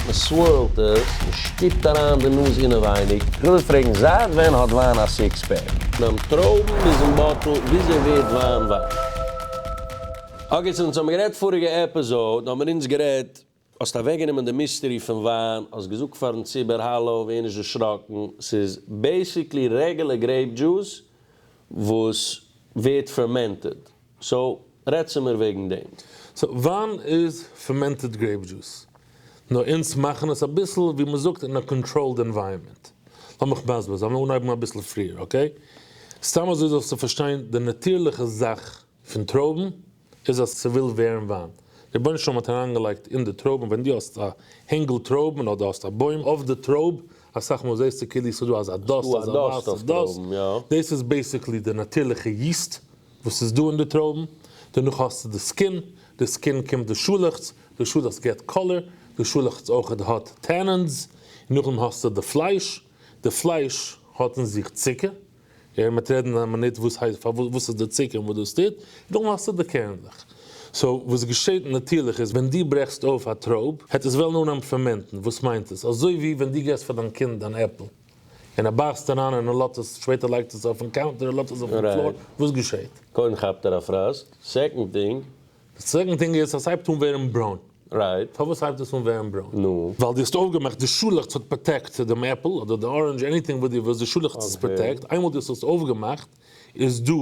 מען סווערלט עס, מען שטופט אריין די נאז אינעווייניג. איך וויל פרעגן, זייט ווען האט וויין א סיקס פעק? ביים טרויבן ביזן באטל, וויאזוי ווערט וויין וויין? אקעי זינט אונז האבן גערעדט פאריגע עפיזאוד האבן מיר אונז גערעדט, האסט אוועקגענומען די מיסטערי פון וויין, האסט געזאגט פארן ציבור האלא ווער נישט דערשראקן, ס'איז בעיסיקלי רעגולער גרעיפ דזשוס וואס ווערט פערמענטעד. סאו רעד צו מיר וועגן דעם. סאו וויין איז פערמענטעד גרעיפ דזשוס, נאר אונז מאכן עס אביסל ווי מען זאגט אין א קאנטראלד ענווייראמענט. לאמיך מסביר זיין, לאמיר אנהייבן אביסל פריער אקעי. סתם אזוי זאלסטו פארשטיין די נאטירליכע זאך פון טרויבן איז אז ס'וויל ווערן וויין. דער רבונו של עולם האט אריינגעלייגט אין די טרויבן ווען דו האסט א הענגל טרויבן אדער האסט א בוים אויף די טרויב, אסאך מאל זעסטו כאילו ס'דא אזא דאסט אזא ווייסע דאסט, דאס איז בעיסיקלי די נאטירליכע יעסט וואס איז דא אין די טרויבן, דערנאך האסטו די סקין, די סקין קומט די שאלעכץ, די שאלעכץ געט קאלער, די שאלעכץ אויכעט האט טענענס, און נאכדעם האסטו די פלייש, די פלייש האט אין זיך צוקער, און מ'עט רעדן אין א מינוט וואס הייסט פאר וואס איז די צוקער און וואס דאס טוט, און נאכדעם האסטו די קערנדלעך. סאו וואס געשעט נאטירליך איז ווען דו ברעכסט אויף א טרויב העט עס וועלן אנהייבן פערמענטן, וואס מיינט עס? אזוי ווי ווען דו געסט פאר דיין קינד אן עפל, און ער בייסט אריין און ער לאזט עס, שפעטער לייגט עס ער אויפן קאונטער און לאזט עס אויפן פלאר, וואס געשעהט? קודם כאפט ער א פראסק, סעקאנד טינג. די סעקאנד טינג איז אז סהייבט אן ווערן ברוין. רייט. פארוואס הייבט עס אן ווערן ברוין? נו. ווייל די האסט אויפגעמאכט די שאלעכץ האט פראטעקט דעם עפל אדער די ארענדזש עניטינג וואס די ווילסט די שאלעכץ איז פראטעקט איינמאל די האסט עס אויפגעמאכט איז דא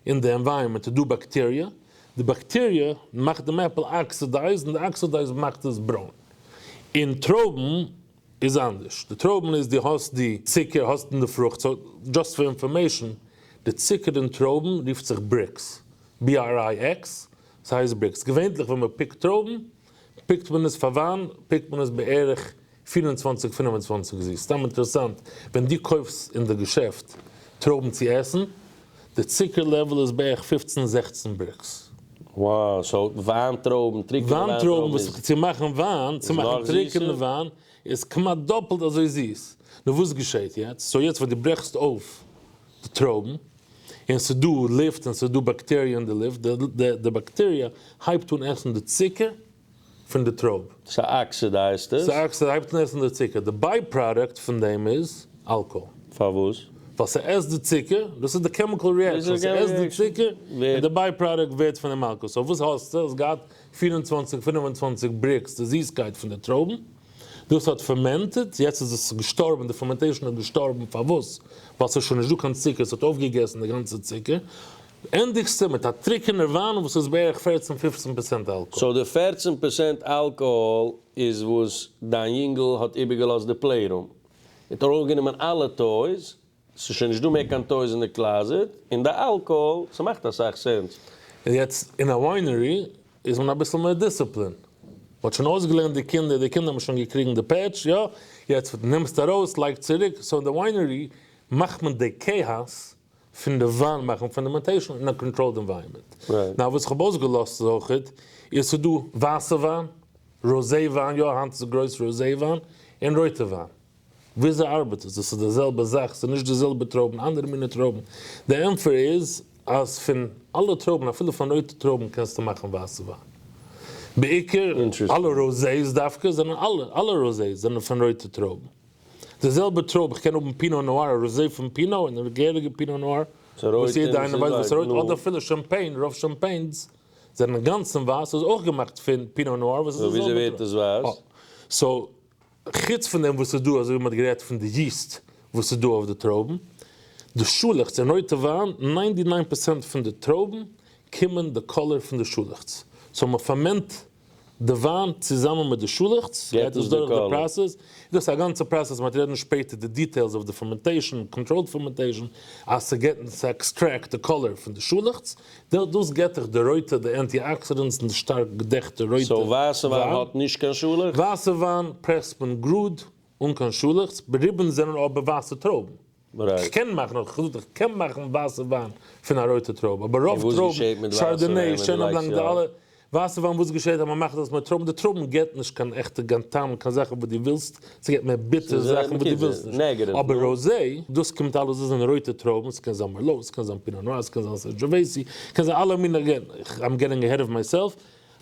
אין די ענווייראמענט איז דא באקטעריע די באקטעריע מאכט דעם עפל אקסידייזד און די אקסידייזד מאכט עס ברוין און טרויבן איז אנדערש, די טרויבן איז די האסט די צוקער האסט אין די פרוכט, סאו דזשאסט פאר אינפארמעישן, די צוקער אין טרויבן רופט זיך בריקס, BRIX, ס'הייסט בריקס, געווענטליך ווען מ'פיקט טרויבן פיקט מען עס פאר וויין פיקט מען עס בערך פֿיר און צוואַנציק פֿינף און צוואַנציק זיס, סתם אינטערעסאנט, ווען דו קויפסט אין די געשעפט טרויבן צו עסן, די צוקער לעוועל איז בערך פופצן זעכצן בריקס. וואו, סאו וויין טרויבן, טרוקענע וויין טרויבן איז. צו מאכן וויין, צו מאכן טרוקענע וויין איז כמעט דאפלט אזוי זיס. נו וואס געשעהט יעצט? סאו יעצט ווען דו ברעכסט אויף די טרויבן, און ס'איז דא לופט און ס'איז דא באקטעריע אין די לופט, די באקטעריע הייבט אן עסן די צוקער, פון די טרויב. ס'אקסידייזט עס. ס'אקסידייזט, הייבט אן עסן די צוקער. די ביי-פראדוקט פון דעם איז אלקאהאל. פארוואס? ווייל ס'עסט די צוקער, דאס איז די קעמיקאל ריעקשאן, ס'עסט די צוקער און די ביי-פראדוקט ווערט פון דעם אלקאהאל. סאו וואס האסטו? האסט געהאט פֿיר און צוואַנציק, פֿינף און צוואַנציק בריקס די זיסקייט פון די טרויבן, דאס האט פערמענטעד, יעצט איז עס געשטארבן, די פערמענטעישאן איז געשטארבן, פארוואס? ווייל ס'איז שוין נישטא קיין צוקער, ס'האט אויפגעגעסן די גאנצע צוקער. ענדיגסטו מיט א טרוקענער וויין וואס איז בערך פערצן פופצן פערצענט אלקאהאל. סאו די פערצן פערצענט אלקאהאל איז וואס דיין יונגעל האט איבערגעלאזט די פלעי רום, און טאר אויפגענומען אלע טויס, ס'איז שוין נישט דא מער קיין טויס אין די קלאזעט, און די אלקאהאל, ס'מאכט אסאך סענס. און יעצט אין א וויינערי איז מען אביסל מער דיסציפלין, מ'האט שוין אויסגעלערנט די קינדער, די קינדער האבן שוין געקריגן די פעטש, יא, יעצט נעמסט ארויס לייג צוריק, סאו אין די וויינערי מאכט מען די כאאס פון די וואן מאכן פאנדאמענטעישאן אין א קאנטראלד ענווייראמענט. נאר וואס כ'האב אויסגעלאזט איז אויך איז ס'איז דא ווייסע וויין, ראזע וויין, יא היינט איז גרויס ראזע וויין, און רויטע וויין. וויאזוי ארבעט עס? דאס איז די זעלבע זאך, ס'איז נישט די זעלבע טרויבן, אנדערע מינע טרויבן. די ענפער איז אז פון אלע טרויבן, אפילו פון רויטע טרויבן קענסטו מאכן ווייסע וויין. בעיקר אלע ראזעס דווקא זענען אלע אלע ראזעס זענען פון רויטע טרויבן. די זעלבע טרויב, איך קען האבן פינא נאר, א ראזעי פון פינא, און א געהעריגע פינא נאר, וואס יעדע איינער ווייסט וואס רויט, אדער אפילו שאמפעין, רוב שאמפעינס זענען אינגאנצן ווייס, איז אויך געמאכט פון פינא נאר, וואס איז די זעלבע טרויב. סאו וויאזוי ווערט עס ווייס? סאו, חוץ פון דעם וואס איז דא, אזוי ווי מען האט גערעדט פון די יעסט וואס איז דא אויף די טרויבן, די שאלעכץ אין רויטע וויין, ניינטי ניין פערסענט פון די טרויבן קומען די קאלער פון די שאלעכץ, סאו מען פערמענט די וויין צוזאמען מיט די שאלעכץ גייט דאס דורך די פראסעס, דאס איז א גאנצע פראסעס מען וועט רעדן שפעטער די דיטעילס אויף די פערמענטעישן, קאנטראלד פערמענטעישן, אז צו געטן צו עקסטרעקט די קאלער פון די שאלעכץ, דאס געט דיך די רויטע די ענטי אקסידענטס און די שטארק געדעכטע רויטע וויין. סאו ווייסע וויין האט נישט קיין שאלעכץ? ווייסע וויין פרעסט מען גראד אן קיין שאלעכץ, ריבענס זענען אבער ווייסע טרויבן. כ'קען מאכן, האב איך געזאגט, איך קען מאכן ווייסע וויין פון א רויטע טרויב, אבער רוב טרויבן, שארדאנעי, שענאן בלאנק, די אלע, ווייסע וויין, וואס געשעהט אז מען מאכט עס מיט טרויבן, די טרויבן געבט נישט קיין עכטע גיין טעם, קיין זאכן וואס דו ווילסט, ס'געבט מער ביטערע זאכן וואס דו ווילסט נישט, אבער ראזי, דאס קומט אלעס, דאס זענען רויטע טרויבן, ס'קען זיין מערלאו, ס'קען זיין פינא נאר, ס'קען זיין סענדזשעוועיסי, קען זיין אלע מינע, אגעין, איים געטינג עהעד אוו מיי סעלף,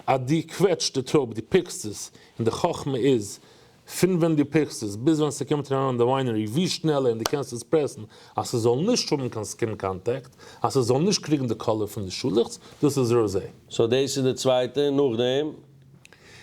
אז דו קוועטשט די טרויב, דו פיקסט עס, און די חכמה איז, פון ווען דו פיקסט עס ביז ווען ס'קומט אריין אין די וויינערי ווי שנעלער און דו קענסט עס פרעסן אז ס'זאל נישט האבן קיין סקין קאנטעקט אז ס'זאל נישט קריגן די קאלער פון די שאלעכץ, דאס איז ראזעי. סאו דאס איז די צווייטע, נאכדעם?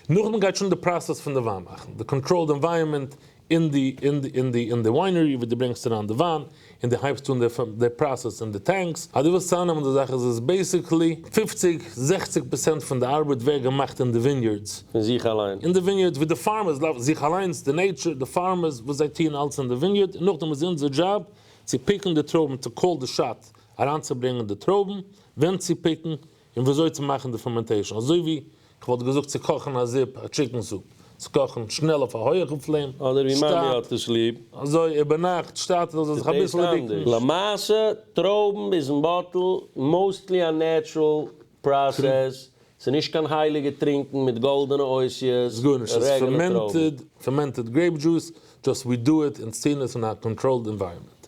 נאכדעם גייט שוין די פראסעס פון די וויין מאכן, די קאנטראלד ענווייערמענט אין די אין די אין די אין די וויינערי ווי דו ברענגסט אריין די וויין, און דו הייבסט אן די פראסעס אין די טענקס, אז דו ווילסט צאמנעמען די זאכן, איז עס בעיסיקלי פֿופֿציק זעכציק פראצענט פון די ארבעט ווערט געמאכט אין די וויניארדס, פון זיך אליין. אין די וויניארדס ווי די פארמערס לאוו זיך אליינס, די נעיטשור, די פארמערס וואס זיי טוען אלץ אין די וויניארד, און נאכדעם איז אונזער דזשאב צו פיקן די טרויבן, טו קאל די שאט, אריינצוברענגען די טרויבן, ווען צו פיקן, און וויאזוי צו מאכן די פערמענטעישן אזוי ווי כ'וואלט געזאגט צו קאכן א זופ א טשיקן סופ צו קאכן שנעל אויף א הויעכן פלעם אדער ווי מאמי שטאט האט עס ליב. אזוי איבערנאכט שטאט עס זאל זיך אביסל דיקן. למעשה טרויבן איז אין באטל מאוסטלי א נעטשרול פראסעס, ס'איז נישט קיין הייליגע טרינקן מיט גאלדענע אותיות, רעגענע טרויבן. פערמענטעד גרעיפ דזשוס, דזשאסט ווי דו איט און סטיר עס אין א קאנטראלד ענווייראמענט.